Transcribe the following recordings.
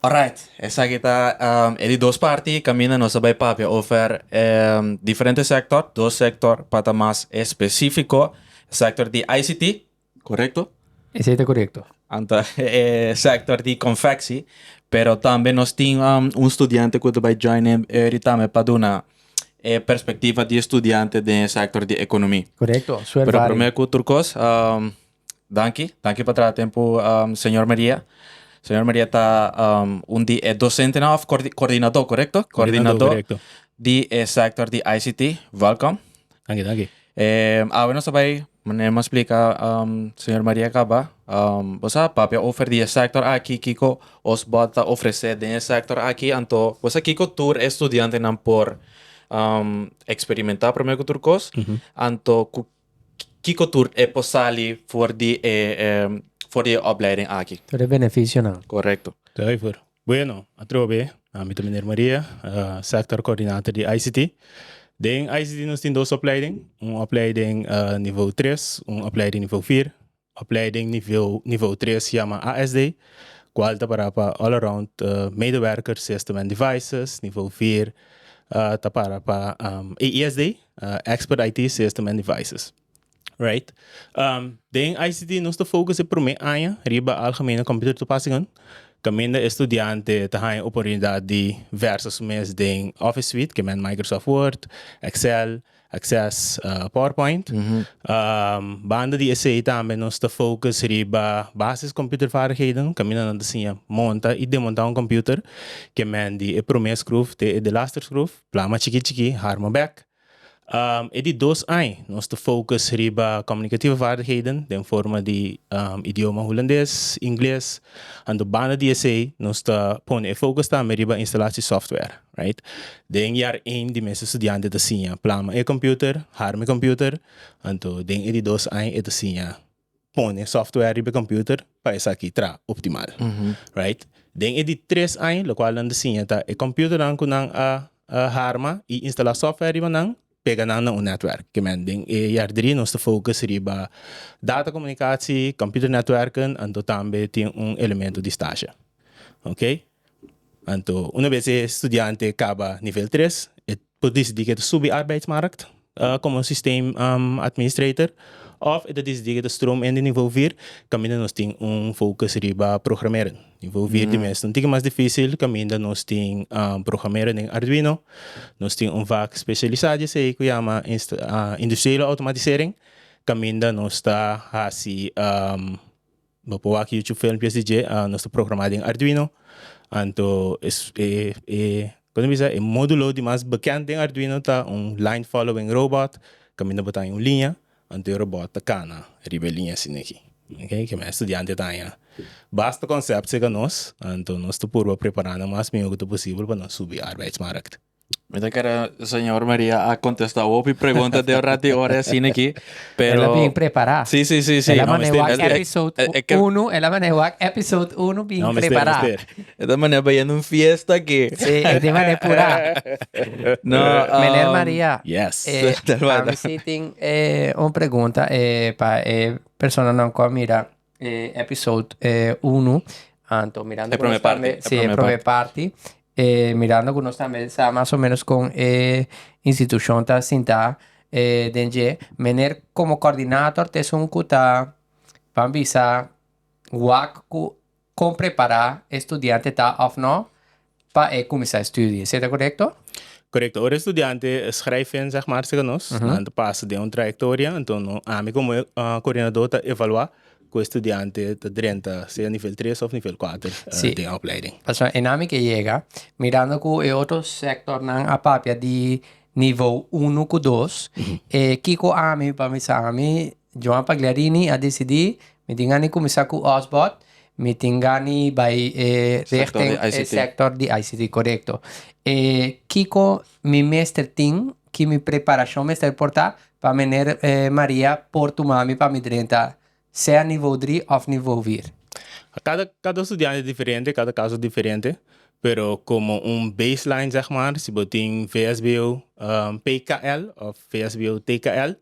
Alright, esaki ta e di dos parti kaminda nos a bai papia over e diferente sector, dos sector pa ta mas especifico, e sector di ICT, correcto? Esei ta correcto. Anto e sector di confecci, pero tambe nos tin un studiante cu ta bai join e eri tambe pa duna e perspectiva di e studiante den e sector di economi. Correcto, suel Pero vari. prome cu tur cos. Danki, danki pa traha tempo um, señor Maria. Señor Maria ta um, un di e docentenan of coordi- coordinador, correcto? Coordinador, correcto. di e sector di ICT. Welcome. Dank je, dank je. Eh, awe nos bai, meneer mo explica, um, señor Maria Caba, um, vos sa papia over di e sector aki, kiko os bot ta ofrece den e sector aki, anto, vos sa kiko tur e estudiantenan por um, experimentar primer ku tur kos, anto ku Kiko tur e por sali for di e for di e opleiding aki? Tur e beneficionan. Korekto. Zuiver. Bueno, atrobe, ami ta Meneer Maria, sector coordinator di ICT. Den ICT nos tin dos opleiding, un opleiding nivel tres, un opleiding nivel vier. Opleiding Niveu tres yama ASD, kual ta para pa All Around Medewerker System and Devices, niveu vier ta para pa AISD, Expert IT System and Devices. Right. Den ICT nos ta focus e prome aña riba Algemene Computer Toepassingen, caminda e studiante ta haña oportunidad di versa su mes den Office Suite, ke men Microsoft Word, Excel, Access powerpoint. Banda di esei tambe nos ta focus riba basis computervaardigheden, caminda nan ta siña monta y demonta un computer, kemen di e prome scruf te e delaster scruf, plama chiki chiki, harma bek. E di dos ai nos ta focus riba comunicativa vaardigheden den forma di idioma Hulandes, Ingles, anto banda di esei nos ta pone e focus tambe riba instalatie software. Right. Den jaar ein di mes estudiante ta siña plama e computer, harma e computer, anto den e di dos aña e ta siña pone software riba e computer pa esaki tra optimal. Right. Den e di tres aña locual nan ta siña ta e computernan cu nan a harma y instala software riba nan pega nan na un netwerk. Ke men den e jaar drie nos ta focus riba data comunicatie, computer netwerken anto tambe tin un elemento di stage. Okay. Anto una bes e studiante kaba nivel tres e por disidí ku e ta subi arbeidsmarkt komo un sistem administrator òf e ta disidí ku e ta stroom in di nivo vier kaminda nos tin un fokus riba programeren. Nivo vier di mes ta un tiki mas difísil kaminda nos tin programeren den arduino, nos tin un vak spesialisá di esei ku yama industriële outomatisering kaminda nos ta hasi Bo por wak YouTube filmpjes di dje, nos ta programá den Arduino, anto e kos mi bisa e módulo di mas bekend den Arduino ta un Line Following Robot, kaminda bo ta haña un liña, anto e robòt ta kana riba e liña asina aki, ok, ke mi estudiante ta haña basta konsèpt serka nos, anto nos ta purba prepará nan mas mihó ku ta posibel pa nan subi arbeidsmarkt. Mi ta kere señor Maria a kontestá hopi pregunta den un rati ora asin aki, pero... Ela bien prepará. Sí, sí, sí, sí. Ela No, mané mister, wak mister. Eh, episode eh, eh, que- uno, ela mané wak episode uno bien No, mister, prepará. mister. E ta mané bay en un fiesta aquí. Sí, e di mané purá. No, Meneer um, Maria, Yes. eh, Tel Wada. a mi sí tin eh, un pregunta eh, pa eh, personanan cu a mira E episode uno anto mirando e prome parti e si e prome parti e mirando cu nos tambe sa mas o menos con e institucion ta sinta e den dje mener como coordinator ta esun cu ta ban bisa wak cu con prepara e studiante ta of no pa e kuminsá estudio di ECETA, korekto? Korekto. Ora e studiante skrijf e ensegmarse ku nos, nan ta pasa den un trayektoria, anto no, ami komo e koordinadó ta evaluá ku e studiante ta drenta sea nivel tres òf nivel kuater den e opleiding. Pasobra e nami ke yega, mirando ku e otro sektornan a papia di nivo uno ku dos, kiko ami, pa mi sa ami Joan Pagliarini a decidí, Mi tin gana di kuminsá ku Osbot, mi tin gana di bai richten e sèktor di ICT, korekto. E kiko mi mester tin, ki mi preparashon mester por ta pa meneer Maria por tuma mi pa mi drenta sea nivou dri òf nivou vier? Kada kada studiante e diferente, kada kaso diferente, pero komo un baseline sègmàr, si bo tin VSBO PKL òf VSBO TKL,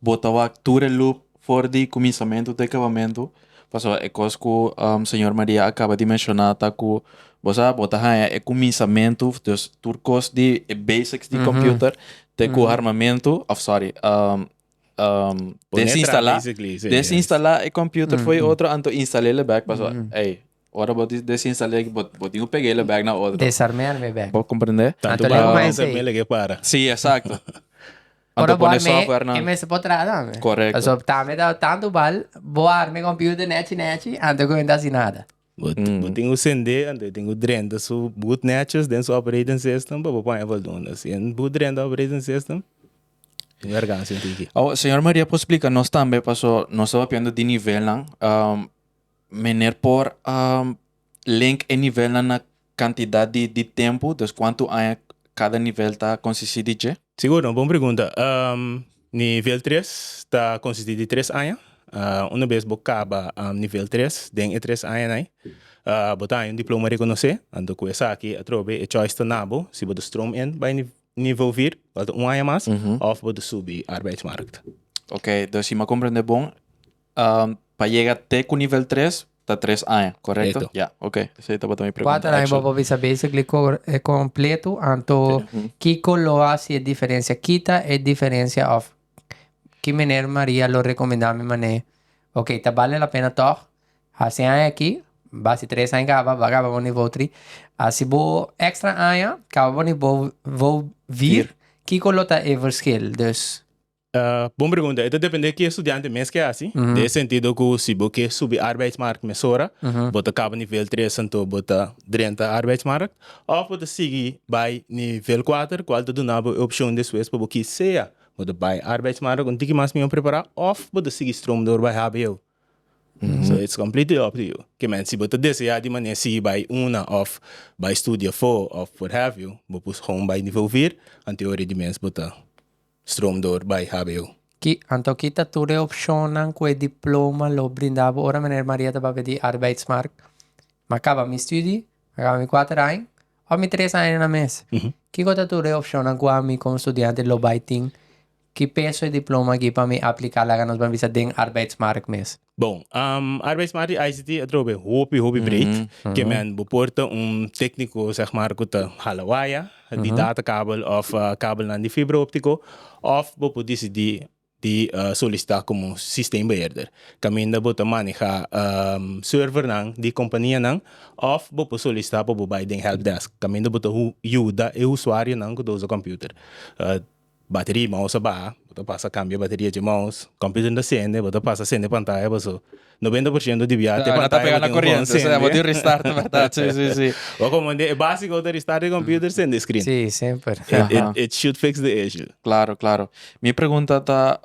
Bo ta wak tur e luk for di kuminsamentu te kabamentu, pasobra e kos ku señor Maria a kaba di menshoná ta ku, bo sa, bo ta haña e kuminsamentu, dus tur kos di e basics di kòmpiuter te ku armamentu, òf sòri, desinstalá, desinstalá e kòmpiuter for e otro anto instal'el e bèk pasobra, ey. Ora bo desinstale aki bo tin cu pega ela back na otro. Desarme al me back. Bo comprende? Tanto bo a desarme el aki para. Si, exacto. Ora bo arme e mester bo traha tambe. Correcto. Paso tambe ta tanto bal bo a arme computer nechi nechi anto cu enta haci nada. Bo tin cu cende anto bo tin cu drenta su boot nechos den su operating system pa bo paña voldoende. Si e boot drenta operating system tin wergancia un tiki. Awo, señor Maria por splica nos tambe paso nos ta papiando di nivelnan. Meneer por a link e nivelnan na cantidad di di tempo, dus cuanto aña cada nivel ta consisti di dje? Sigur, no bon pregunta. Nivel tres ta consisti di tres aña. Una bes bo caba nivel tres, den e tres añanai bo ta haña un diploma reconoce. Anto cu esaki atrobe e choice ta na bo, si bo ta stroom in bay niveau vier, falta un aña mas, of bo ta subi arbeidsmarkt. Oké, dus si m'ha comprende bon, Um, pa yega te ku nivel 3 ta tres aña, korekto? Korekto. Ya, ok. Esei tabata mi pregunta. Kuater aña actually. bobo bisa basically ko- e kompletu anto Mhm. kiko lo hasi e diferensia? Kita e diferensia òf ki mener Maria lo rekomendá mi manera e ok ta bale la pena tòg hasi e aña aki, basi tres aña kaba ba kaba bo nivo tri, hasi bo èkstra aña kaba bo nivo vir, kiko lo ta e verskil? Dus. Bon pregunta. E ta dependé ki estudiante mes ke hasi. Den e sentido ku si bo ke subi arbeidsmark mesora, bo ta kaba nivel tres anto bo ta drenta arbeidsmark. Òf bo ta sigui bai nivel kuater kual ta duna bo e opshon despues pa bo kis sea bo ta bai arbeidsmark un tiki mas mihó prepará òf bo ta sigui strom dor bai hbo. So it's completely up to you. Ke mèn si bo ta deseá di manera sigui bai una òf bai studia fo òf what have you, bo por gou bai nivel vier anto e hora di mes bo ta Stroom door by hbo. Ki anto ki ta tur e opshonnan ku e diploma lo brinda bo ora Meneer Maria ta papia di arbeidsmark? Mi a kaba mi studi, mi a kaba mi kuater aña òf mi tres aña na mes. Kiko ta tur e opshonnan ku ami kon studiante lo bai tin ki peso e diploma aki pa mi apliká laga nos ban bisa den arbeidsmark mes? Bon, um, arbeidsmart di ICT a trobe hopi, hopi breed. Mm -hmm. Ke men bo por ta un técnico, zeg maar, ku ta hala waya, di datakabel of uh, kabelnan di fibra óptico, of bo por disidí di uh, solisitá komo sistembeheerder. Kaminda bo ta maneha um, servernan di kompanianan of bo por solisitá pa bo bai den helpdesk, kaminda bo ta hu- yuda e usuarionan ku ta usa kòmputer. Uh, Bateria mau sa baha, bo ta pasa kambia bateria dje maus. Computer ta sende, bo ta pasa sende pantaya paso noventa por shento di biaha te pantaya bo tin un bon sende. Bo komo un dje e basico bo ta restart e computer sende e screen. It should fix the issue. Claro, claro. Mi pregunta ta.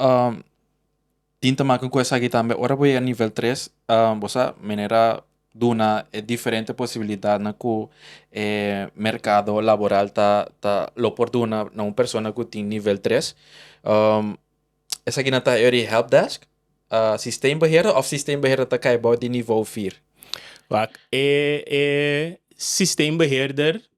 Tin ta maka ku esaki tambe ora bo yega nivel tres bo sa manera duna e diferente posibilidatnan ku e merkado laboral ta ta lo por duna na un persona ku tin nivel tres esakinan ta heri di hèlp dèsk sistem behera of sistem behera ta kai bou di nivo fir? Wak e e sistem beheerder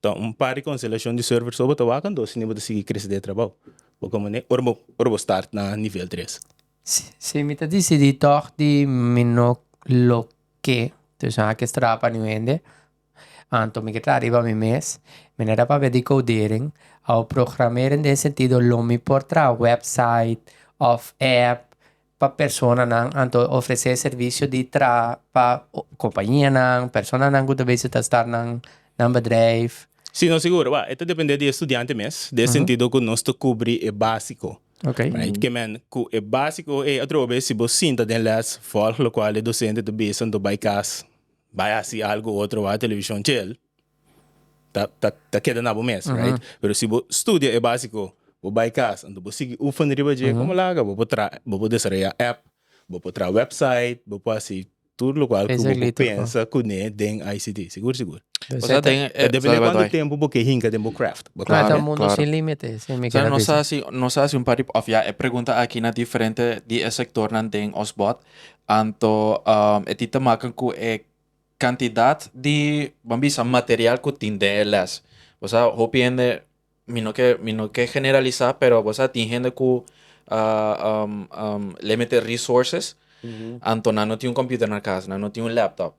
Ta un par di konselashon di Surfer so bo ta wak anto sende bo ta sigui krese ta e trabou. Bo komo ne ora bo ora bo start na nivel tres. Si mi ta disidí tòg di mi no lo ke tusa aki estrada pa niu hende, anto mi ke traha riba mi mes. Mi na da papia di koudering òf programering den e sentido lo mi por traha wèpsait òf èp pa personanan anto ofresé servisio di traha pa kompañianan, personanan ku ta bese ta start nan bedrijf. Si, nos sigur. Wèl, e ta dependé di e studiante mes, den e sentido ku nos ta kubri e básiko, right. Ke men ku e básiko ei atrobe bes si bo sinta den lès, vòlg lokual e dosente ta bisa anto bai kas, bai hasi algu otro, bai a televishon, chel. ta keda na bo mes right pero si bo studia e basico bo bay casa enton bo sigui oefen riba dje como laga bo por traha bo por desaraya app bo por traha website bo por haci tur lo cual cu bo por pensa cune den ICT segur segur depende cuanto tempo bo ke hinca den bo craft bo craft claro claro mundo sin limite si mi keda bisa nos haci nos haci un par di of ya e pregunta aki na diferente di e sectornan den ons bot anto e tin ta maken cu e Cantidad di bo a bisa material cu tin den e les. Bo sa hopi hende mi no ke mi no ke generalisa pero bo sa tin hende cu limited resources anto nan no tin un computer na casa nan no tin un laptop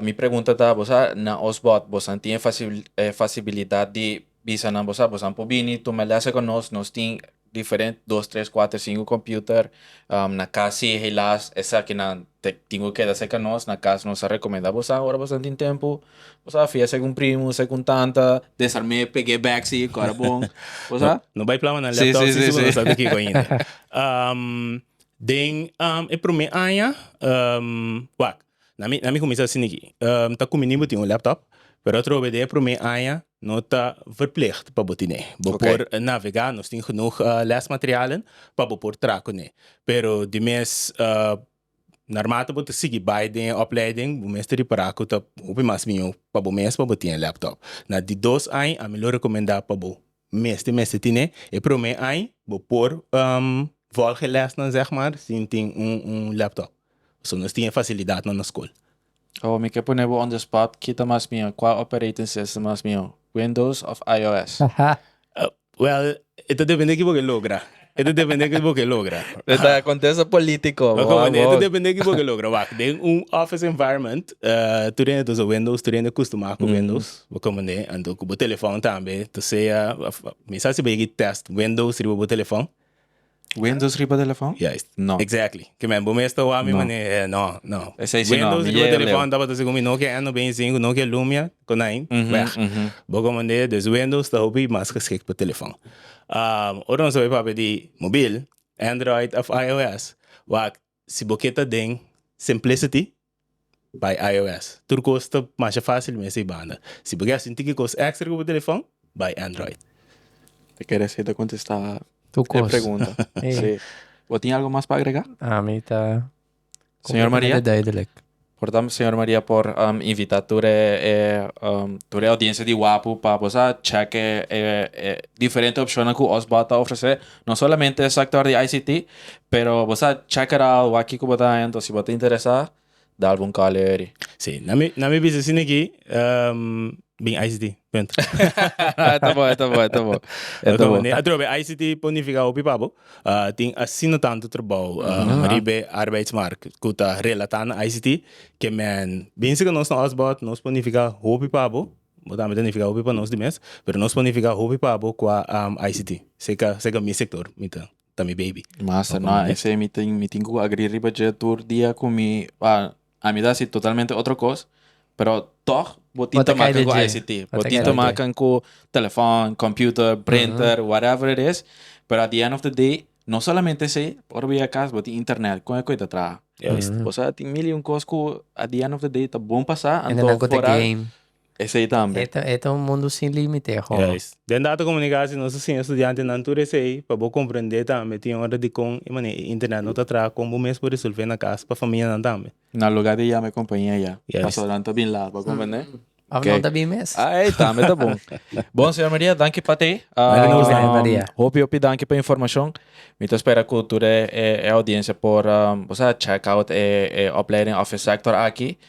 mi pregunta ta bo sa na osbod bo san tin e fasi e fasibilidad di bisa nan bo sa bo san por bini tuma lese cu nos nos tin diferente dos tres cuater cinco computer na cas si helaas esaki nan te tin cu keda cerca nos na cas nos a recomenda bosa ora bosa tin tempo bosa a fia esaki un primo esaki un tanta desarme e pge bek si ora bon bosa no bay plama nan laptop si segun no sabe kico ainda den e prome aña wak Na mi na mi kuminsá sin di ki, Em ta kumin'é bo tin un laptop, pero atrobe di e promé aña no ta verplicht pa bo tin'é. Bo por navegá, nos tin genoeg lèsmaterialen pa bo por traha kuné. Pero di mes naarmate bo ta sigui bai den e opleiding bo mester ripará ku ta hopi mas mió pa bo mes pa bo tin e laptop. Na di dos aña ami lo rekomendá pa bo Mester mester tine e prome ai bo por volg e lesnan zeg maar sin tin un un laptop so nos tin e facilidad na nos school. Ho mi ke pone bo on the spot kita mas mihó kua operating system mas mihó windows of IOS? Well e ta depende kibo ke logra E ta depende kibo ke logra. E ta contesta politico. E ta depende kibo ke logra. Wak, den un office environment, tur hende ta usa Windows, tur hende custuma cu Windows, bo comprende? Anto cu bo telefoon tambe, ta sea, mi sa si bo yeki test Windows riba bo telefoon. Windows riba telefoon? Juist. No. Exactly. Ke men, bo mes ta wak mi manera. No. No, no. Esei si no, mi yega leu. Windows riba telefoon tabata si cu mi no ke N veinti sinku, no ke Lumia, konijn, weg. Bo comprende? Dus Windows ta hopi mas geschikt pa telefoon. Ora nos ta bay papia di mobil, Android of IOS, wak si bo ke ta den Simplicity, bay IOS. Tur cos ta masha facil mes ey banda. Si bo ke haci un tiki cos extra cu bo telefon, bay Android. Ta kere así ta contesta e pregunta. Bo tin algo mas pa agrega? Ami ta. Señor Maria. Completamente duidelijk. Por tanto Señor Maria por invita tur e tur e audiencia di Wapu pa bo sa check e e diferente opcionnan cu Osborn ta ofrece no solamente e sector di ICT pero bo sa check it out wak ki cu bo ta haña entonces si bo ta interesa da algun call aheri. Si na mi na mi bisa si niki bin ICT punto. E ta bon e ta bon e ta bon e ta bon. Atrobe ICT por nifica hopi pa bo Tin asina tantu trabou riba e arbeidsmark ku ta relatá na ICT ke men binse ku nos na Osborg nos por nifiká hopi pa bo, bo tambe ta nifiká hopi pa nos di mes, pero nos por nifiká hopi pa bo kua ICT. Seka seka mi sektor mi ta ta mi baby. Masa, no, esei mi tin mi tin ku agri riba dje tur dia ku mi. A mi ta hasi totalmente otro kos, pero tòg bo tin ta makan ku ICT. Bo tin ta makan ku telefòn, kòmpiuter, printer, whatever it is, pero at the end of the day no solamente esei, ora bo yega kas bo tin internet, kon e ku e ta traha? Bo sa tin mil i un kos ku at the end of the day ta bon pa sa anto foral. Esei tambe. E ta un mundu sin límite e hoga. Den Data Komunikasi nos ta siña studiantenan tur esei pa bo komprendé tambe tin ora di kon e manera e internet no ta traha kon bo mes por resolvé na kas pa famianan tambe. Na luga di yama e kompania ya pasobra nan ta bin laha pa komprendé. Òf nan ta bin mes. Ey tambe ta bon. Bon señor Maria, danki pa te. Danki nos tambe Maria. Hopi hopi danki pa e informashon. Mi ta spera ku tur e audiencia por bo sa check out e opleiding òf e sector aki.